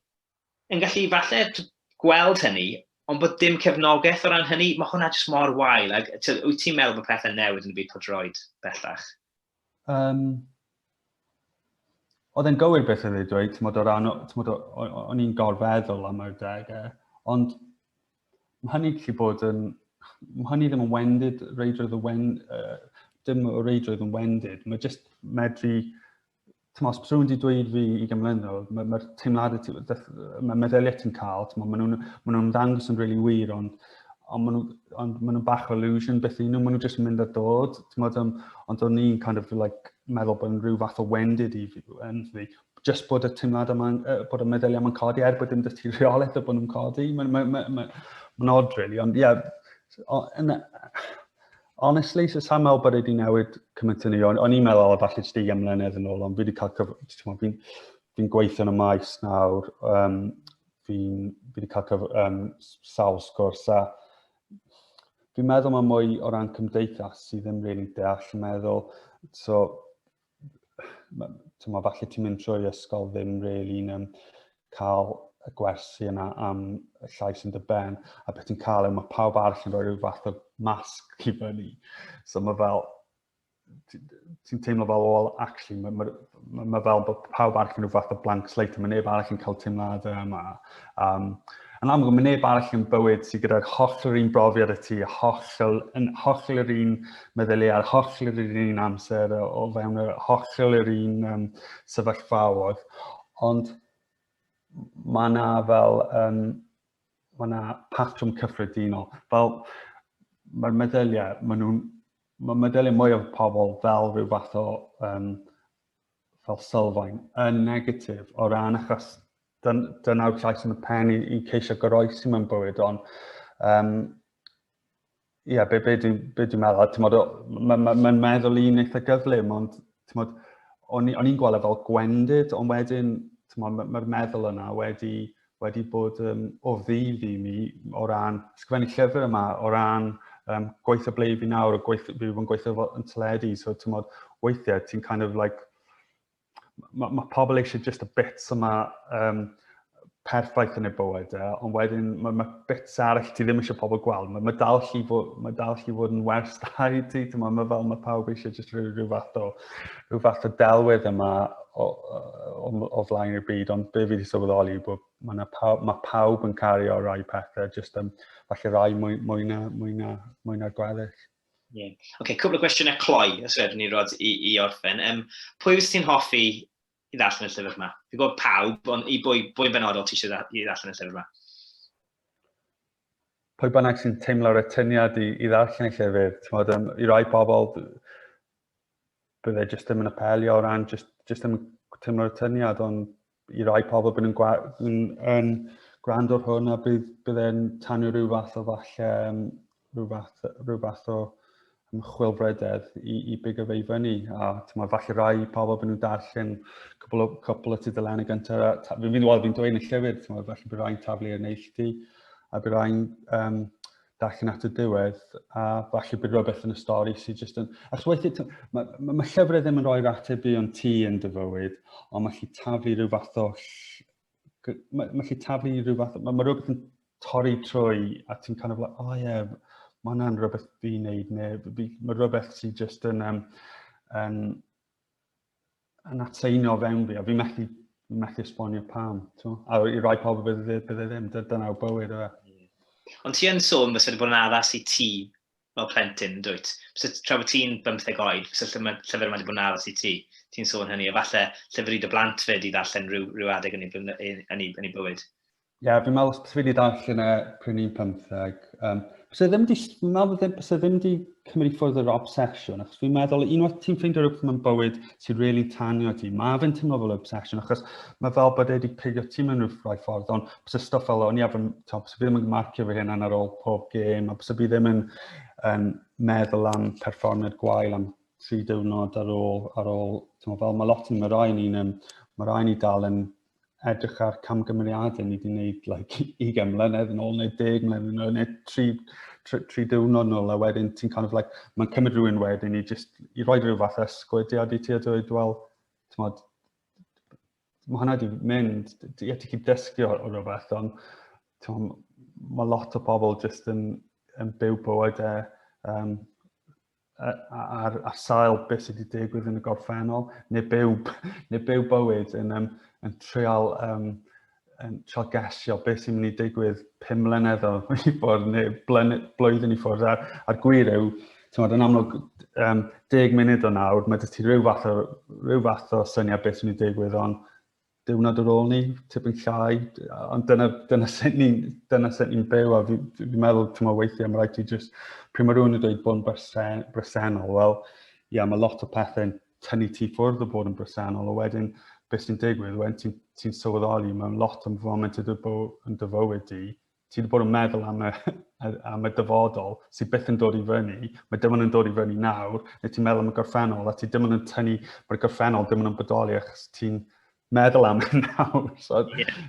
yn gallu falle t'o' gweld hynny, ond bod dim cefnogaeth o ran hynny, ma' hwnna jyst mor wael ag yy t'od wyt ti'n meddwl bod pethe'n newid yn y byd pêl-droed bellach? Um, oedd e'n gywir beth oedd ei dweud, ti'n o ran, ti'n o, o'n i'n gorfeddwl am yr degau, ond mae hynny gallu bod yn, mae hynny ddim yn wendid, reidrwydd y wen, uh, dim o reidrwydd yn wendid, mae jyst medru Tmo, os rhywun wedi dweud fi i gymlynol, mae'r ma teimladau ti, mae meddyliau ti'n cael, tmo, maen nhw'n ma nhw dangos yn really wir, ond ond maen nhw'n on, ma nhw bach o illusion beth i nhw, maen nhw jyst yn mynd a dod, tmod, um, ond o'n i'n kind of like, meddwl bod yn rhyw fath o wendid i fi, yn fi, just bod y teimlad yma, uh, bod y meddyliau yma'n codi, er bod dim dys ti reolaeth o bod nhw'n codi, mae'n ma, ma, ma, ma, ma odd, really, ond ie, yeah, Honestly, so sa'n meddwl bod wedi newid cymaint yn ei. O'n i'n meddwl o falle jyst i ymlenedd yn ôl, ond fi wedi cael cyf... Fi'n fi gweithio yn y maes nawr, um, fi'n fi wedi cael cyf, um, sawl sgwrs a fi'n meddwl mae mwy o ran cymdeithas sydd ddim rili'n deall yn meddwl. So, Mae falle ti'n mynd trwy ysgol ddim really yn cael y gwersi yna am y llais yn dy ben, a beth ti'n cael yw mae pawb arall yn rhoi rhyw fath o masg i fyny. So mae fel, ti'n teimlo fel, well, actually, mae ma, ma, ma fel bod pawb arall yn rhyw fath o blank slate, mae neb arall yn cael teimladau yma. Um, yn amlwg, mae neb arall yn bywyd sydd gyda'r holl yr un brofiad y ti, holl, yn holl yr un meddyliau, a'r holl yr un amser, o fewn yr holl yr un um, sefyllfaodd. Ond mae yna fel, um, mae yna patrwm cyffredinol. Fel, mae'r meddyliau, mae nhw'n, mae meddyliau mwy o pobl fel rhyw fath o um, fel sylfaen yn negatif o ran achos dyn, dynaw'r llais yn y pen i, i ceisio goroesi mewn bywyd, ond um, ie, yeah, be, be dwi'n be dwi meddwl, ti'n modd, mae'n ma, ma meddwl i'n eitha gyflym, ond ti'n modd, o'n i'n gweld e fel gwendid, ond wedyn, ti'n modd, mae'r meddwl yna wedi wedi bod um, o ddydd i mi o ran sgrifennu llyfr yma, o ran um, gweithio ble i fi nawr, o gweithio, fi wedi gweithio fo yn teledu, so ti'n modd weithiau ti'n kind of like, mae ma pobl eisiau just y bits yma um, perffaith yn ei bywyd e, ond wedyn mae ma bits arall ti ddim eisiau pobl gweld. Mae ma dal chi fod, ma dal chi fod yn wers da i ti, ti'n modd, mae fel mae pawb eisiau just rhyw, rhyw fath o rhyw fath o delwedd yma o, o, o flaen y byd, ond be fi wedi sylweddoli yw bod mae, na pawb, mae pawb yn cario rai pethau, jyst um, falle rai mwy, mwy, na, mwy, na, mwy na'r gweddill. Yeah. OK, cwbl o gwestiynau cloi, os wedyn ni rod i, i orffen. Um, pwy wyt ti'n hoffi i ddarllen y llyfr yma? Fi'n gwybod pawb, ond i bwy, bwy'n benodol ti eisiau i ddarllen y llyfr yma? Pwy bynnag sy'n teimlo'r atyniad i, i ddarllen y llyfr, ti'n modd, um, i rai pobl, bydde jyst ddim yn apelio o ran jyst, jyst ddim tymlo'r tyniad, ond i rai pobl bydd yn, gwa, yn, yn gwrando'r hwn a bydd, bydd e'n tanio rhyw fath o falle, um, rhyw, fath, rhyw fath o ymchwilfrededd i, i big o fe i fyny. A tyma, falle rai pobl bydd nhw'n darllen cwbl o, cwbl o tudalen y gyntaf. Fi'n fi'n dweud yn y llyfr, tyma, falle bydd rai'n taflu yn neilltu a bydd rai'n um, darllen at y diwedd, a falle bydd rhywbeth yn y stori sydd jyst yn... Achos weithiau, mae ma, ma llyfrau ddim yn rhoi'r ateb i ond ti yn dy fywyd, ond mae lli taflu rhyw fath o... Mae, mae lli taflu rhyw fath o... Mae, ma rhywbeth yn torri trwy a ti'n kind of like, oh yeah, mae hwnna'n rhywbeth fi'n neud, neu mae rhywbeth sydd jyst yn... Um, yn yn atseino fewn fi, a fi methu, fi methu esbonio pam. Twa? A i rai pobl bydde, bydde ddim, dyna o bywyd yna. E. Ond ti yn sôn bys wedi bod yn addas i ti fel plentyn, dwyt? Bys tra bod ti'n bymtheg oed, bys y llyfr yma wedi bod yn addas i ti. Ti'n sôn hynny, a falle llyfr i dy blant fyd i ddarllen rhyw, rhyw adeg yn ei, yn ei, yn ei bywyd. Ie, yeah, fi'n meddwl os fi wedi darllen e pryn i'n pymtheg, um, bys e ddim di, fi'n meddwl ddim, bys e ddim di cymryd ffwrdd yr obsesiwn, achos fi'n meddwl unwaith ti'n ffeindio rhywbeth mewn bywyd sy'n rili really tanio ti, mae fe'n teimlo fel obsesiwn, achos mae fel bod e wedi pigio ti mewn rhyw rai ffordd, ond bys y stwff fel o'n i efo'n, bys fi ddim yn marcio fy hyn ar ôl pob gêm, a bys fi ddim yn um, meddwl am perfformiad gwael am tri diwrnod ar ôl, ar ôl, fel mae lot yn y rai ni'n, mae rai ni dal yn edrych ar camgymeriadau ni wedi gwneud like, 20 mlynedd yn ôl neu 10 mlynedd yn ôl neu 3, 3, 3 diwrnod yn ôl a wedyn ti'n kind of like, mae'n cymryd rhywun wedyn i, just, i roi rhyw fath ysgwydiad i ti a dweud, wel, tymod, mae hwnna wedi mynd, ti wedi chi dysgu o, o rhywbeth, ond tymod, mae lot o pobl jyst yn, yn byw bywydau um, ar, ar sail beth sydd wedi digwydd yn y gorffennol, neu byw, neu byw bywyd yn, um, yn treol um, yn treol gesio beth sy'n mynd i digwydd pum mlynedd o i ffwrdd neu blwyddyn i ffwrdd. A'r, ar gwir yw, tymod, yn amlwg, um, deg munud o nawr, mae dysgu rhyw fath o, rhyw fath o syniad beth sy'n mynd i digwydd, ond diwrnod ar ôl ni, tipyn llai, ond dyna, dyna sut ni'n ni, ni byw, a fi'n fi, fi meddwl, ti'n meddwl, weithiau, mae rhaid ti just, pryd mae rhywun yn dweud bod yn bresen, bresennol, wel, ia, yeah, mae lot o pethau'n tynnu ti ffwrdd o bod yn bresennol, a wedyn, beth sy'n digwydd, wedyn ti'n ti sylweddoli mewn lot o'n foment y dy yn dyfywyd di, ti wedi bod yn meddwl am y, am y dyfodol sydd byth yn dod i fyny, mae dim ond yn dod i fyny nawr, neu ti'n meddwl am y gorffennol, a ti dim ond yn tynnu, mae'r gorffennol dim ond yn bodoli achos ti'n meddwl am hyn nawr. So... Yeah.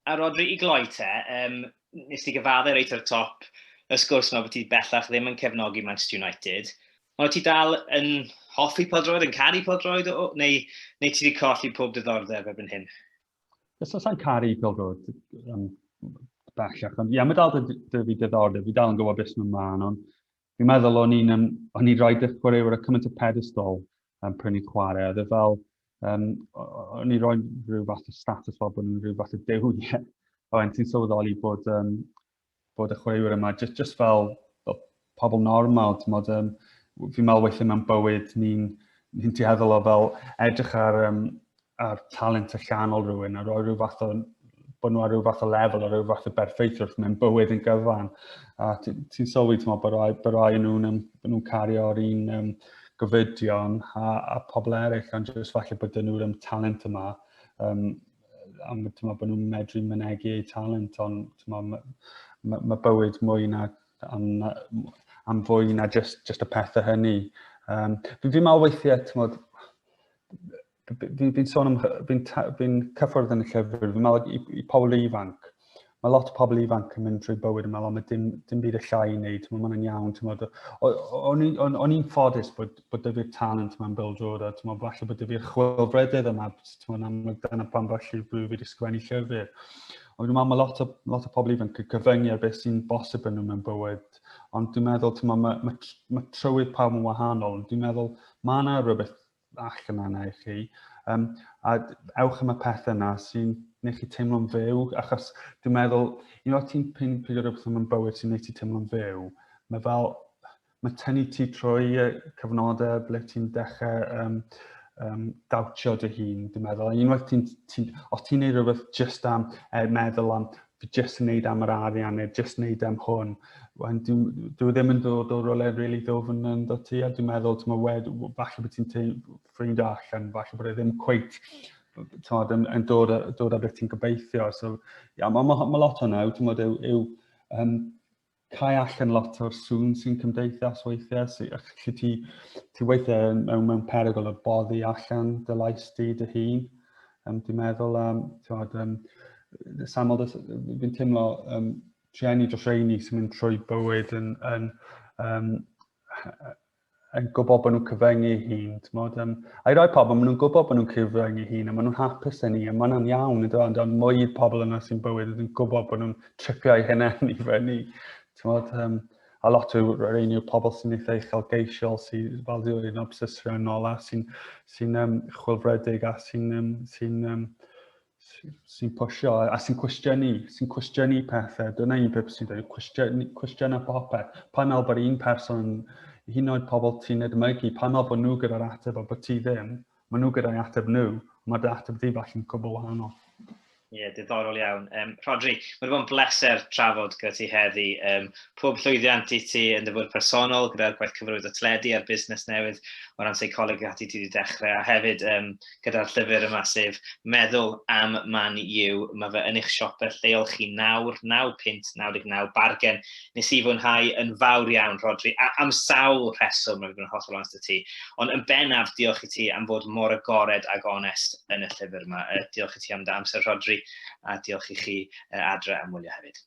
a Rodri, i gloi te, um, nes ti gyfaddau reit o'r top, y sgwrs yma bod ti bellach ddim yn cefnogi Manchester United, ond ti dal yn hoffi podroed, yn caru podroed, neu, neu ti wedi colli pob diddordeb erbyn hyn? Ys os sa'n caru pilgo, um, bellach. Ond ia, mae dal dy, dy fi diddordeb, fi dal yn gwybod beth sy'n ymlaen, ond fi'n meddwl o'n i'n um, o'n i'n rhoi dy chwaraewyr y cymaint o pedestol um, pryn i'n chwarae. Oedd e fel, um, o'n i'n rhoi rhyw fath o status fel bod nhw'n rhyw fath o dewiau. Ond ti'n sylweddoli bod um, bod y chwaraewyr yma, just, just fel, fel pobl normal, ti'n modd, um, fi'n meddwl weithio mewn bywyd, ni'n ni tueddol o fel edrych ar, um, ar talent y llanol rhywun, a roi rhyw fath o bod nhw ar rhyw fath o lefel, ar rhyw fath o berffaith wrth mewn bywyd yn gyfan. A ti'n ti sylwi, ti'n meddwl, bod rai, bod rai nhw'n um, nhw cario'r un um, gofidion a, a pobl eraill, ond jyst falle bod nhw'r um, talent yma um, am tyma, bod nhw'n medru mynegu eu talent, ond tyma, mae ma, ma bywyd mwy na, am, am fwy na just, just y pethau hynny. Um, fi'n fi meddwl weithiau, tymod, fi'n fi sôn am, fi'n fi cyffwrdd yn y llyfr, fi'n meddwl i, i pobl ifanc, mae lot o pobl ifanc yn mynd trwy bywyd yma, ond mae dim, dim byd y llai i wneud, mae hwnna'n iawn, ti'n modd, o'n i'n ffodus bod, bod dyfu'r talent yma'n Bill Jordan, ti'n modd, falle bod dyfu'r chwilfredydd yma, ti'n modd, amlwg dyna pan falle rwyf wedi sgwennu llyfr. Ond dwi'n meddwl mae lot o, lot o pobl ifanc yn cyfyngu ar beth sy'n bosib yn nhw mewn bywyd. Ond dwi'n meddwl, ti'n meddwl, mae, mae, mae trywydd pawb yn wahanol. Ond dwi'n meddwl, mae yna rhywbeth ac yna na i chi. Um, a ewch am y peth yna sy'n gwneud chi teimlo'n fyw, achos dwi'n meddwl, un o'r ti'n pyn pryd o rhywbeth yn bywyd sy'n gwneud ti teimlo'n fyw, mae fel, mae tynnu ti trwy cyfnodau ble ti'n dechrau um, um, dawtio dy hun, dwi'n meddwl. A unwaith ti'n, ti, os ti'n gwneud rhywbeth just am er meddwl am jyst yn neud am yr arian neu jyst yn neud am hwn. Wan, dwi, dwi ddim yn dod o rolau rili really ddofn yn dod ti, a dwi'n meddwl, ti'n wed, falle bod ti'n ffrind allan, falle bod e ddim cweit tywed, yn, yn dod, dod â beth ti'n gobeithio. So, ia, mae ma, ma lot o'n yw, ti'n modd, yw, yw um, cae allan lot o'r sŵn sy'n cymdeithas weithiau, sy, lle ti, ti weithiau mewn, mewn perygl o boddi allan dy lais di dy hun. Um, dwi'n meddwl am, tiwad, um, samol, fi'n teimlo um, trenu dros reini sy'n mynd trwy bywyd yn, yn um, yn gwybod bod nhw'n cyfyngu ei hun, ti'n modd, um, a'i roi pobl, maen nhw'n gwybod bod nhw'n cyfyngu ei hun, a maen nhw'n hapus yn ni, a maen nhw'n iawn, ydw, ond ond mwy pobl yna sy'n bywyd, ydw'n gwybod bod nhw'n tripio ei hynny i fyny, ti'n modd, um, a lot o'r rhain yw'r pobl sy'n eitha uchelgeisiol, sy'n fel dweud yn obsesriannol a sy'n sy um, chwilfredig a sy'n um, sy um, sy'n posio a sy'n cwestiynu, sy'n cwestiynu pethau. Dyna un peth sy'n dweud, cwestiynu popeth. Pan al bod un person yn hyn oed pobl ti'n edmygu, pan al bod nhw gyda'r ateb a bod ti ddim, mae nhw gyda'i ateb nhw, mae dy ateb di falle'n cwbl wahanol. Ie, yeah, diddorol iawn. Um, Rodri, mae wedi bod yn bleser trafod gyda ti heddi. Um, pob llwyddiant i ti yn dyfod personol gyda'r gwaith cyfrwyd o tledi a'r busnes newydd o ran seicoleg ati ti wedi dechrau. A hefyd, um, gyda'r llyfr yma sef Meddwl am Man U. Mae fe yn eich siope lleol chi nawr, 9 punt 99, bargen. Nes i fwynhau yn fawr iawn, Rhodri, a, am sawl rheswm, rwy'n bod yn hollol onest y ti. Ond yn bennaf, diolch i ti am fod mor agored ag onest yn y llyfr yma. Uh, diolch i ti am dy amser, Rhodri, a diolch i chi uh, adre am wylio hefyd.